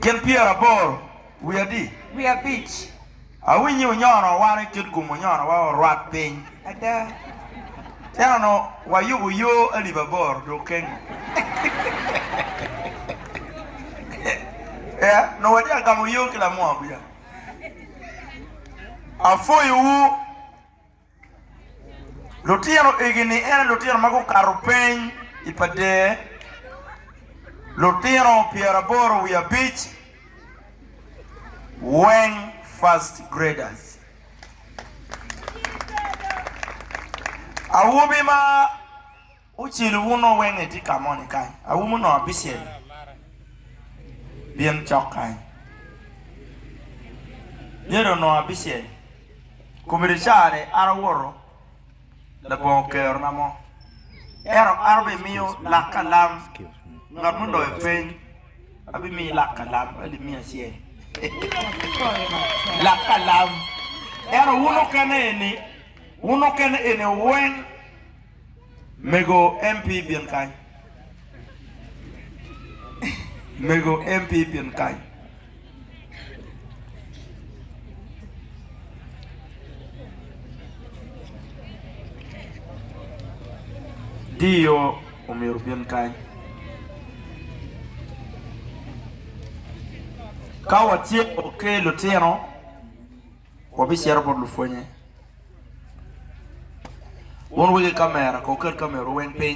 Gin pyeraboro wiye adi? Wiye abic. Awinyo ni wunyono wan i kit gum wunyono wa orwat piny. Ada. Cen onongo wayubo yo alip aboro dok kengo. Ee, onongo watye ka gamo yo ki lamua kuca. Apwoyowu. Lutino egi ni ene lutino ma gukato peny i pader lutino pyeraboro wiye abic weng first graders. Awobi ma. Ocelu uno weng etye ka moni kany, aum onongo abicel byen cok kany. Myero onongo abicel kome ri care an awoto labongo okero na mo. Ento an obi miyo lak ka lam ngat mo loyo peny abi miyi lak ka lam ma li miya acel lak ka lam. Ento wun okene eni wun okene eni weng Mego MP bin kany. Mego MP bin kany. Dio omyero bin kany. Ka watye oke lutino. Wabicito bot lupwonnye. Wun wegi kamera, kow ket kamerau weng piny.